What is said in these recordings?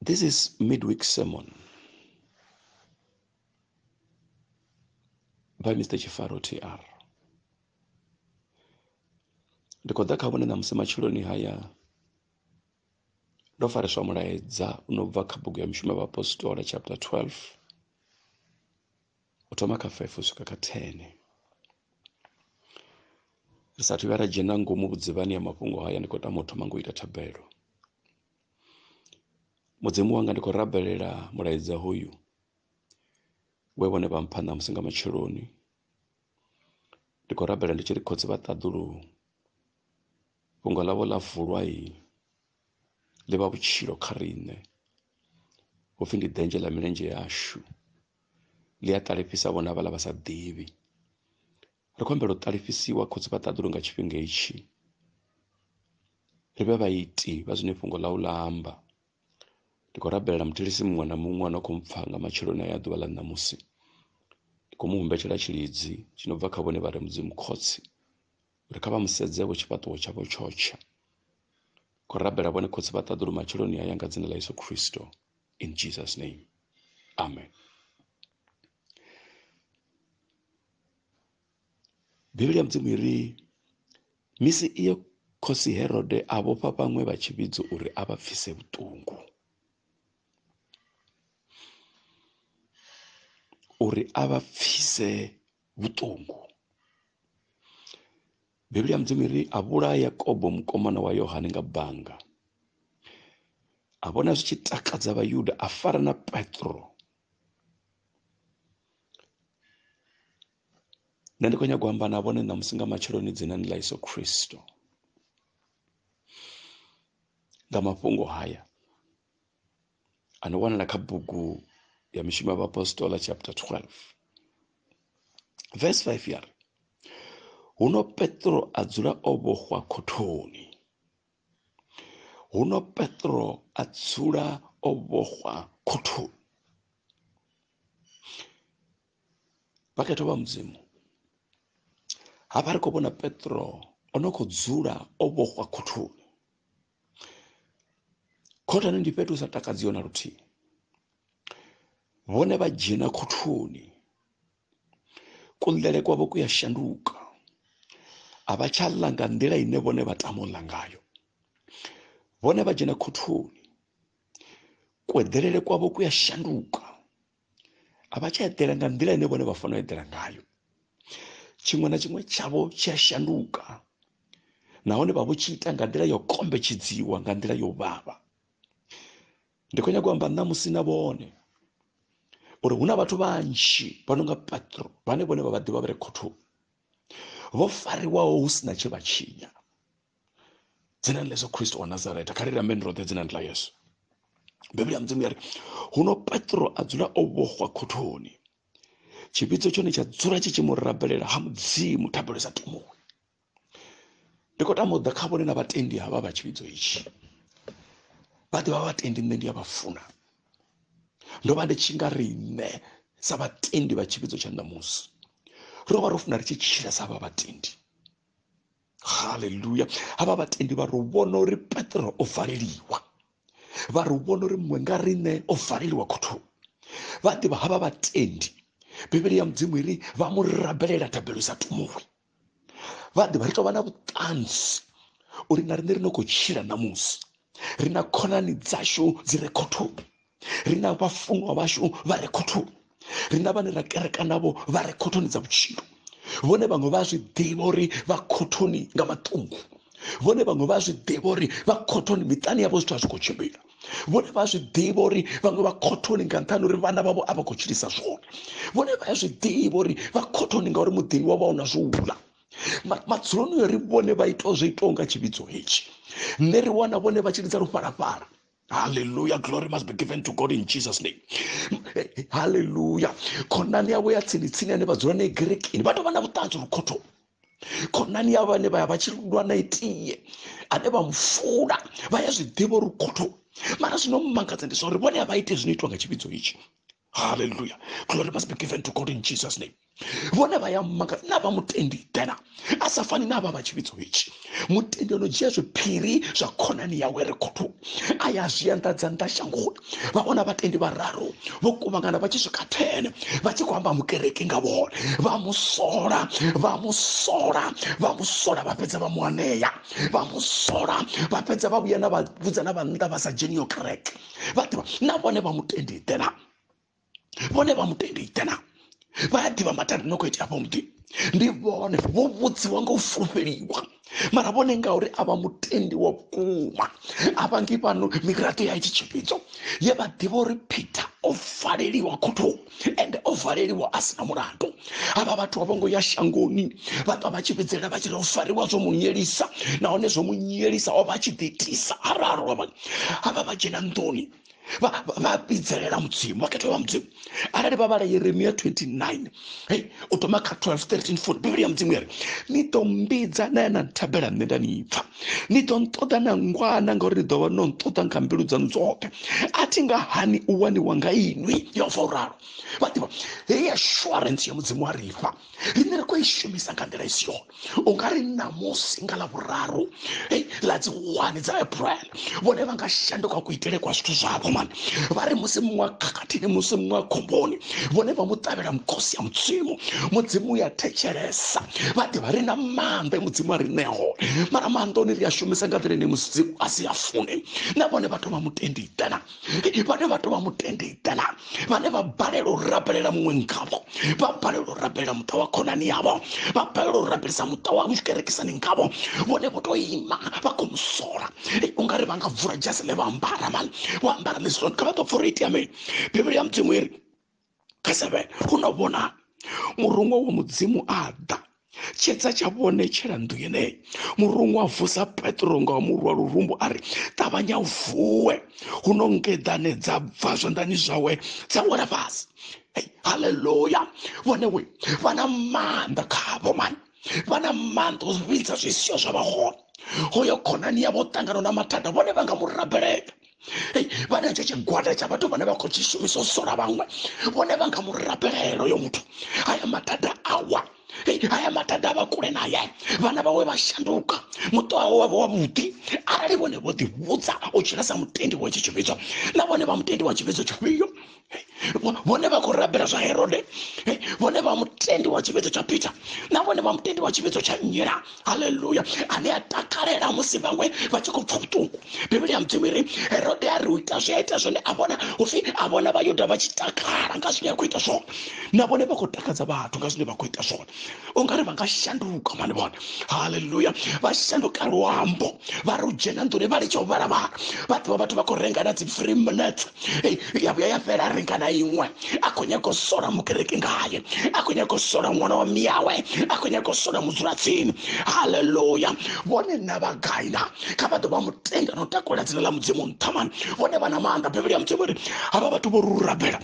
This is midweek sermon by Mr. Chifaro TR. Ndi khou ḓa kha vhone ṋamusi matshiloni haya ndo fariswa mulaedza u no bva kha bugu ya mishumo ya vhaapostola chapter 12 u thoma kha 5 u swika kha 10 ri sathu vhuya ra dzhena ngomu vhudzivhani ya mafhungo haya ndi khou tama u thoma ngo ita thabelo mudzimu wanga ndi khou rabelela mulaedza hoyu we vhone vha mpha ṋamusi nga matsheloni ndi khou rabela ndi tshi ri khotsi vha ṱaḓuluhu fhungo ḽavho ḽa vulwa i ḽi vha vhutshilo kha riṋe hupfi ndi denzhe ḽa milenzhe yashu ḽi a ṱalifhisa vhona vhala vha sa ḓivhi ri khou humbela u ṱalifhisiwa khotsi vha ṱaḓulu nga tshifhinga itshi ri vhe vhaiti vha zwine fhungo ḽau ḽa amba ndi khou rabelela muthilisi muṅwe na muṅwe ano khou mpfha nga matsheloni a ya ḓuvha ḽa ṋamusi ndi khou mu humbetshela tshilidzi tshi no bva kha vhone vha re mudzimu khotsi uri kha vha musedze vho tshifhaṱuwo tshavho tshotsha khou rabela vhone khotsi vha ṱaḓulu matsheloni a ya nga dzina ḽa yesu khristo in jesus name amen Bivhili ya Mudzimu i ri misi iyo khosi Herode a vhofha vhaṅwe vha tshivhidzo uri a vha pfise vhuṱungu uri a vha pfise vhuṱungu Bivhili ya Mudzimu ri a vhulaya Yakobo mukomana wa Yohane nga banga a vhona zwi tshi takadza vhayuda a fara na Petro nṋe ndi khou nyanga u amba na vhone ṋamusi nga matsheloni dzinani ḽa yesu khristo nga mafhungo haya a no wanala kha bugu ya mishumo ya vhaapostola chapter 12 verse 5 ya ri huno petro a dzula o vhoxwa khothoni huno petro a dzula o vhoxwa khothoni vhakhetho vha mudzimu hafha ri khou vhona petro o no khou dzula o vhoxwa khothoni khothoni ndi fhethu hu sa takadziho na luthihi vhone vha dzhena khothoni kuḽele kwavho ku ya shanduka a vha tsha ḽa nga nḓila ine vhone vha tama u ḽa ngayo vhone vha dzhena khothoni kueḓelele kwavho ku ya shanduka a vha tsha eḓela nga nḓila ine vhone vha fanela u eḓela ngayo tshiṅwe na tshiṅwe tshavho tshi a shanduka nahone vha vho tshi ita nga nḓila yo kombetshedziwa nga nḓila yo vhavha ndi khou nyanga u amba ṋamusi na vhone uri hu na vhathu vhanzhi vha no nga petro vhane vhone vha vhaḓivha vha re khothoni vho fariwaho hu si na tshe vha tshinya dzina ḽa yesu khristo wa nazareta kha ri rameni roṱhe dzinani ḽa yesu bivhili ya mudzimu ya ri huno petro a dzula o vhohwa khothoni tshivhidzo tshone tsha dzula tshi tshi mu rabelela ha mudzimu thabelo sa tumuwi ndi khou tama u ḓa kha vhone na vhatendi havha vha tshivhidzo itshi vha ḓivha vhatendi nṋe ndi a vha funa ndo vha ndi tshi nga ri nṋe sa vhatendi vha tshivhidzo tsha ṋamusi ro vha ro funa ri tshi tshila sa vha vhatendi haleluya havha vhatendi vha ri vhona uri petro o valeliwa vha ri vhona uri muṅwe nga riṋe o valeliwa khothoni vha ḓivha havha vhatendi bivhili ya mudzimu iri vha mu rabelela thabelo i sa tumuwi vhaḓi vha ri tovha na vhuṱanzi uri na riṋe ri no khou tshila ṋamusi ri na khonani dzashu dzi re khothoni ri na vhafunwa vhashu vha re khothoni ri na vhane ra kereka navho vha re khothoni dza vhutshilo vhone vhaṅwe vha zwi ḓivha uri vha khothoni nga maṱungu vhone vhaṅwe vha zwi ḓivha uri vha khothoni miṱani yavho zwithu a zwi khou tshimbila vhone vha zwi ḓivha uri vhaṅwe vha khothoni nga nṱhani uri vhana vhavho a vha khou tshilisa zwone vhone vha ya zwi ḓivha uri vha khothoni ngauri muḓini wa vha u na zwo ula madzuloni yo ri vhone vha itaho zwo itaho nga tshivhidzo hetshi nṋe ri wana vhone vha tshi lidza lufhalafhala haleluya glory must be given to god in jesus name haleluya khonani yavho ya tsini tsini ane vha dzula nae gerekini vha tou vha na vhuṱanzi uri khothoni khonani ya vhane vha ya vha tshi lwa na itie ane vha mufuna vha ya zwi ḓivha uri khotho mara zwino mmangadza ndi zwa uri vhone a vha ite zwino itwa nga tshivhidzo itshi haleluya glory must be given to god in jesus name vhone vha ya mmangadza na vha mutendi dena a sa fani na vha vha tshivhidzo itshi mutendi ano dzhia zwiphiri zwa khonani yawe ri khotho a ya zwi anḓadza nnḓa shangoni vha vhona vhatendi vhararu vho kuvhangana vha tshi swika thene vha tshi khou amba mukereke nga vhone vha mu sola vha mu sola vha mu sola vha fhedza vha mu anea vha mu sola vha fhedza vha vhuya na vha vhudza na vhannḓa vha sa dzheniyo kereke vha ḓivha na vhone vha mutendi ḓela vhone vha mutendi itana vha a ḓivha mathada no khou itea afho muḓini ndi vhone vho vhudziwa nga u fulufheliwa mara vhone ngauri a vha mutendi wa vhukuma a vha ngi fhano miraḓo ya itshi tshiphidzo ye vha ḓivha uri peter o valeliwa khotho ende o valeliwa a sina mulandu havha vhathu a vho ngo ya shangoni vha ṱwa vha tshi vhidzela vha tshi ri o fariwa zwo mu nyelisa nahone zwo mu nyelisa o vha a tshi ḓiitisa araro havha vha dzhena nḓuni vha vha vhidzelela mudzimu vha khetho vha mudzimu arali vha vhala yeremia 29 hey u thoma kha 12 13 14 bivhili ya mudzimu yari ni ḓo mbidza na ya na nthabela nṋe nda ni pfa ni ḓo nṱoḓa na ngwana ngauri ni ḓo vha no nṱoḓa nga mbilu dzaṋu dzoṱhe a thi nga hani u waniwa nga inwi yehova u ralo vha ḓivha heyi assurance ya mudzimu a ri fha riṋe ri khou i shumisa nga nḓila i si yone u nga ri ṋamusi nga ḽa vhuraru ei ḽa dzi wani dza april vhone vha nga shanduka kuitele kwa zwithu zwavho mani vha ri musi muṅwe khakhathini musi muṅwe khomboni vhone vha mu ṱavhela mukhosi ya mudzimu mudzimu ya thetshelesa vha ḓivha ri na maanḓa mudzimu a ri ṋea hone mara maanḓa one ri a shumisa nga nḓila ine mudzimu a si a fune na vhone vha thoma mutendi itana vhane vha tovha mutende itela vhane vha balelwa u rabelela muṅwe ngavho vha balelwa u rabelela muṱa wa khonani yavho vha balelwa u rabelisa muṱa wa mushikerekisani ngavho vhone vho to ima vha khou musola ungari vha nga vula dzhasi ḽe vha ambara mani vho ambara ḽi zwone kha vha ḓo pfura itea mini bivhili ya mudzimu iri kha seven hu no vhona murungo wa mudzimu a ḓa tshedza tsha vhone tshela nnḓu yeneyi murungu a vusa petro nga wa murwa lurumbu a ri ṱavhanya u vuwe hu no ngeḓane dza bva zwanḓani zwawe dza wela fhasi haleluya vhone we vha na maanḓa khavho mani vha na maanḓa u vhidza zwisio zwa vha hone hoyo khonani yavho ṱangana na mathada vhone vha nga mu rabelela hei vha na tshe tshigwada tsha vhathu vhane vha khou tshi shumisa u sola vhaṅwe vhone vha nga mu rabela heloyo muthu haya mathada awa haya mathada a vha kule naye vhana vhawe vha shanduka muṱo wawe wa vha wavhuḓi arali vhone vho ḓivhudza u tshila sa mutendi wa tshi tshivhidzo na vhone vha mutendi wa tshivhidzo tshifhio vhone vha khou rabela zwa herode vhone vha mutendi wa tshivhidzo tsha peter na vhone vha mutendi wa tshivhidzo tsha nnyela halleluya ane a takalela musi vhaṅwe vha tshi khou pfa vhuṱungu bivhili ya mudzimu iri herode a ri u ita zwi a ita zwone a vhona upfi a vhona vhayuda vha tshi takala nga zwine a khou ita zwone na vhone vha khou takadza vhathu nga zwine vha khou ita zwone u nga ri va nga shanduka mani vona halleluya va shanduka luambo va ri u dzhena nḓuni vha litsha u vhala vhala vha ḓivha vhathu vha khou renga na dzi free minutes ya vhuya ya fhela a renga na iṅwe a khou nyaga u sola mukereke ngaye a khou nyaga u sola ṅwana wa miyawe a khou nyaga u sola mudzulatsini halleluya vhone na vha gai na kha vha ḓo vha mutenda na u takula dzina ḽa mudzimu nṱha mani vhone vha na maanḓa bivhili ya mudzimu ri havha vhathu vho rurabela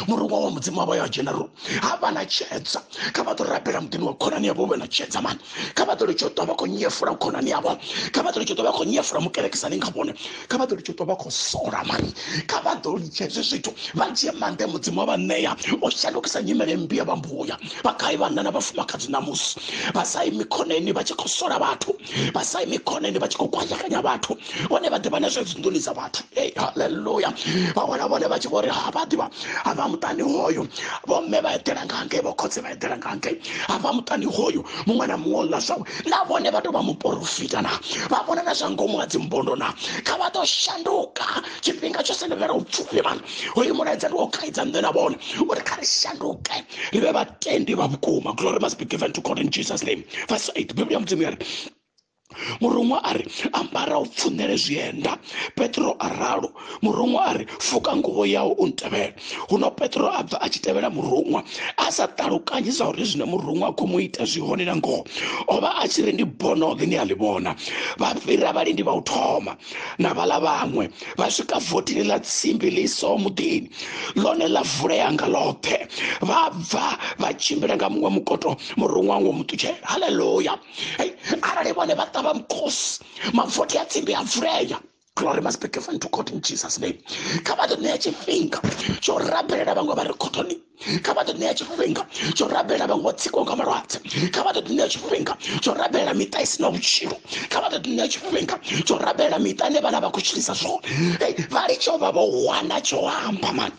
murungo wa mudzimu wavha ya general ha vha na tshedza kha vha ḓo rabela muḓini wa khonani yavho vhe na tshedza mani kha vha ḓo litsho ṱwa vha khou nyefula khonani yavho kha vha ḓo litsho ṱwa vha khou nyefula mukerekisani nga vhone kha vha ḓo litsho ṱwa vha khou sola mani kha vha ḓo litsha hezwi zwithu vha dzhie maanḓa mudzimu wa vha ṋea o shandukisa nyimele mmbi ya vha mbuya vha gai vhanna na vhafumakadzi ṋamusi vha sa imi khoneni vha tshi khou sola vhathu vha sa imi khoneni vha tshi khou kwashekanya vhathu vhone vha ḓivha na zwe dzinḓuni dza vhathu ei halleluya vha wana vhone vha tshi vho ri ha vha ḓivha ha vha muṱani hoyu vhomme vha eḓela nga ngei vho khotse vha eḓela nga ngei ha vha muṱani hoyu muṅwe na muṅwe ḽa zwawe na vhone vha tou vha muporofita na vha vhona na zwa ngomu ha dzimbondo na kha vha ḓo shanduka tshifhinga tsho senovhela u pfufhi vhana hoyu mulaedza ndi wo khaidza nṋe na vhone uri kha ri shanduke ri vhe vhatendi vha vhukuma glory must be given to god in jesus name verse 8 biblia mudzimu ya ri muruṅwa a ri ambara u pfunele zwienda petro a ralo muruṅwa a ri fuka nguvho yawo u ntevhela huno petro a bva a tshi tevhela muruṅwa a sa ṱalukanyi zwa uri zwine muruṅwa a khou mu ita zwi hone na ngoho o vha a tshi ri ndi bonoge ni a ḽi vhona vha fhira vhalindi vha u thoma na vhala vhaṅwe vha swika votini ḽa tsimbi ḽi so muḓini ḽone ḽa vulea nga ḽoṱhe vha bva vha tshimbila nga muṅwe mukoto muruṅwa ngo mu ṱutshela haleluya hei arali vhone vha ṱavha mukhosi mavothi a tsimbi a vulea glory must be given to god in jesus name kha vha ḓo ṋea tshifhinga tsho rabelela vhaṅwe vha re khothoni kha vha ḓo ṋea tshifhinga tsho rabelela vhaṅwe vho tsikwaho nga malwadze kha vha ḓo ḓi ṋea tshifhinga tsho rabelela miṱa i si na vhutshilo kha vha ḓo ḓi ṋea tshifhinga tsho rabelela miṱa ine vhana vha khou tshilisa zwone vha litsho vha vho wana tsho amba mani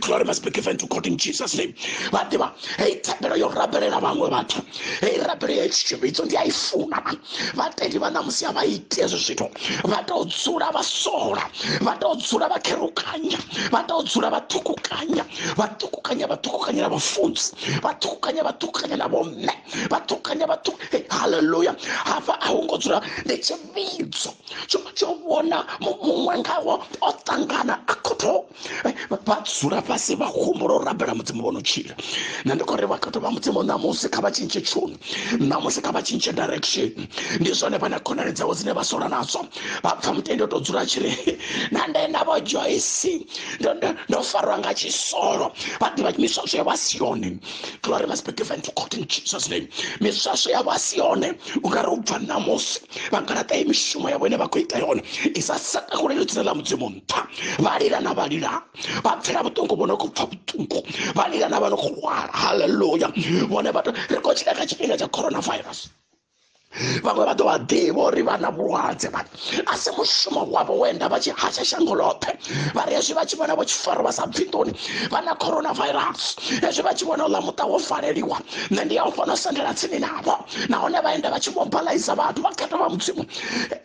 Glory must be given to God in Jesus name. Vadiva, hey thabelo yo rabelela vhaṅwe vhathu. Hey rabelo ya tshivhidzo ndi a i funa man. Vhatendi vha ṋamusi a vha iti hezwi zwithu. Vha tou dzula vha sola. Vha tou dzula vha kherukanya. Vha tou dzula vha ṱhukukanya. Vha ṱhukukanya vha ṱhukukanya na vhafunzi. Vha ṱhukukanya vha ṱhukukanya na vhomme. Vha ṱhukukanya vha ṱhukukanya. Hallelujah. Hafha a hu ngo dzula ndi tshivhidzo. tsho tsho vhona muṅwe ngawo o ṱangana a khotho eh, vha dzula fhasi vha humbula u rabela mudzimu vhono tshila na ndi khori vhakhetho vha mudzimu ṋamusi kha vha tshintshe tshuni ṋamusi kha vha tshintshe direction ndi zwone vha na khonani dzavho dzine vha sola nadzo vha pfa mutendi o tou dzula tshiri na nde navho joyce ndo farwa nga tshisolo vha ḓivha miswa zwe vha si yone glory must be given to god in jesus name miswaswo yavho a si yone u nga ri u bva ṋamusi vha nga laṱa ye mishumo yavho ine vha khou ita yone i sa sakakulelo dzina ḽa mudzimu nṱha vha lila na vha lila vha pfela vhuṱungu vho no khou pfa vhuṱungu vha lila na vha no khou lwala halleluya vhone vhathu ri khou tshila kha tshifhinga tsha coronavirus vhaṅwe vha ḓo vha ḓivha uri vha na vhulwadze vha a si mushumo wavho wenda vha tshi hasha shango ḽoṱhe vha ri hezwi vha tshi vhona vho tshi faro vha sa bvi nḓuni vha na coronavirus hezwi vha tshi vhona uḽa muṱa wo faleliwa nṋe ndi ya u fhano sendela tsini navho nahone vha enda vha tshi mobalaiza vhathu vha khetha vha mudzimu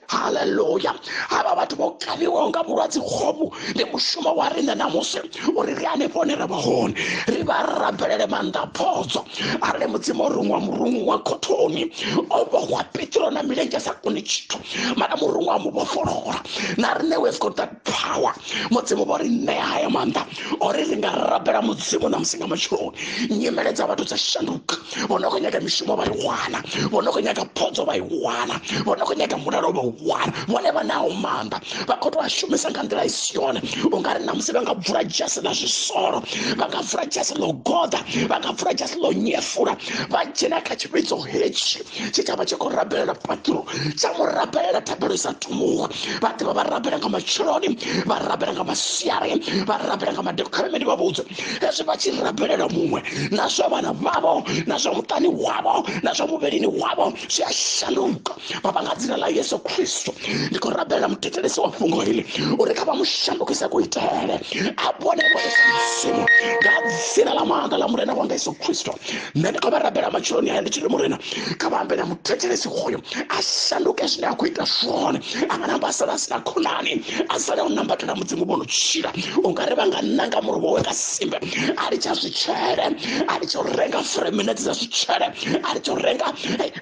haleluya havha vhathu vho kavhiwaho nga vhulwadze hovhu ndi mushumo wa riṋe namusi uri ri hanefho hone ra vha hone ri vha ri rabelele maanḓa phodzo arali mudzimu o ruṅwa murungu wa khothoni o vhohwa petro na milenzhe sa koni tshithu mara murungu a mu vhofholola na riṋe we've got that power mudzimu vho ri ṋea haya maanḓa ori ri nga rabela mudzimu na musi nga matshiloni nyimele dza vhathu dza shanduka vho no khou nyaga mishumo vha i wana vho no khou nyaga phodzo vha i wana vho no khou nyaga mulalo vha u wana vhone vha naho maanḓa vha khou tou a shumisa nga nḓila i si yone u nga ri na musi vha nga bvula dzhasi ḽa zwisolo vha nga bvula dzhasi ḽo goḓa vha nga bvula dzhasi ḽo nyefula vha dzhena kha tshivhidzo hetshi tshitshavha tshi khou rabelela phaṱhuro tsha mu rabelela thabelo isa thumuwa vha ḓivha vha rabela nga matsheloni vha rabela nga masiari vha rabela nga madekholemeni vha vhudze hezwi vha tshi rabelela muṅwe na zwa vhana vhavho na zwa muṱani wavho na zwa muvhilini wavho zwi a shanduka baba nga dzina ḽa yesu khristo ndi khou rabelela muthetshelesi wa fhungo hili uri kha vha mu shandukise kuitele a vhone vhone sa mudzimu nga dzina ḽa maanḓa ḽa murena wanga yesu khristo nṋe ndi khou vha rabela matshiloni haya ndi tshi ri murena kha vha ambe na muthetshelesi hoyo a shanduke zwine a khou ita zwone a nga namba a sala a si na khonani a sala u nambatela mudzimu vho no tshila u nga ri vha nga nanga muri wawe nga simbe a litsha zwitshele a litsha u renga freminete dza zwitshele a litsha u renga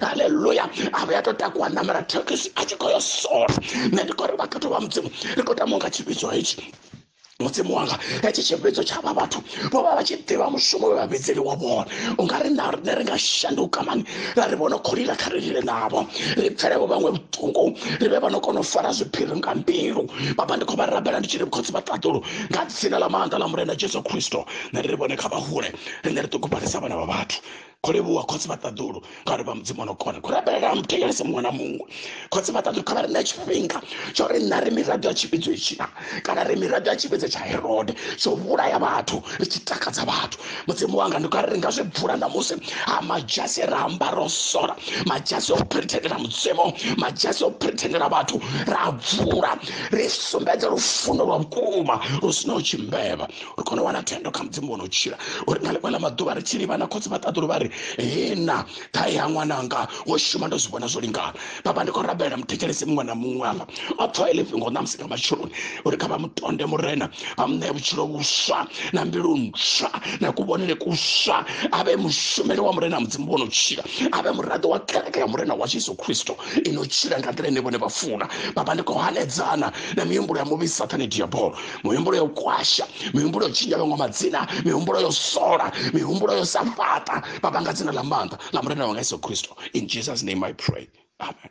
haleluya a vha ya tou takuwa namela thekhisi a tshi khou yo sola nṋe ndi khou ri vhakhetho vha mudzimu ri khou tama u nga tshivhidzo hetshi mudzimu wanga hetshi tshivhidzo tsha vha vhathu vho vha vha tshi ḓivha mushumo we vhavhidzeli wa vhona u nga ri na rine ri nga shanduka mani ra ri vhono kholila kha ri lile navho ri pfelevo vhaṅwe vhuṱungu ri vhe vha no kona u fara zwiphiri nga mbilu baba ndi khou vha rabela ndi tshi ri khotsi vha ṱaḓulu nga dzina ḽa maanḓa ḽa murena jesu kristo na ri ri vhone kha vhahule rine ri ṱugubalisa vhana vha vhathu kho livhuwa khotsi vha ṱaḓulu ngauri vha mudzimu ono kona kho rabelela muthetshelese muṅwe na muṅwe khotsi vha ṱaḓulu kha vha ri ṋe tshifhinga tsho ri nṋa ri miraḓo ya tshivhidzo itshina kana ri miraḓo ya tshivhidzo tsha herode tsho vhulaya vhathu ri tshi takadza vhathu mudzimu wanga ndi kari ri nga zwi bvula ṋamusi ha madzhasi ra amba ro sola madzhasi o phrithendela mudzimu madzhasi o phrithendela vhathu ra bvula ri sumbedza lufuno lwa vhukuma lu sinaho tshimbevha ri kone u wana thendo kha mudzimu wono tshila uri nga ḽiṅwe ḽa maḓuvha ri tshi livhana khotsi vha ṱaḓulu vha ri hena ṱhae ya ṅwananga wo shuma ndo zwi vhona zwo lingana baba ndi khou rabela muthetshelesi muṅwe na muṅwe afha a pfa ile fhingo ṋamusi nga matsheloni uri kha vha mutonde murena vha mu ṋee vhutshilo vhuswa na mbilu ntswa na kuvhonele kuswa a vhe mushumeli wa murena mudzimu vhono tshila a vhe muraḓo wa kereke ya murena wa jesu kristo ino tshila nga nḓila ine vhone vha funa baba ndi khou hanedzana na mihumbulo ya muvhi sathane diabolo mihumbulo yo kwasha mihumbulo yo tshintsha vhaṅwe madzina mihumbulo yo sola mihumbulo yo sa fhaṱa vha vhanga dzina ḽa maanḓa nga murena wanga yesu kristo in jesus name i pray amen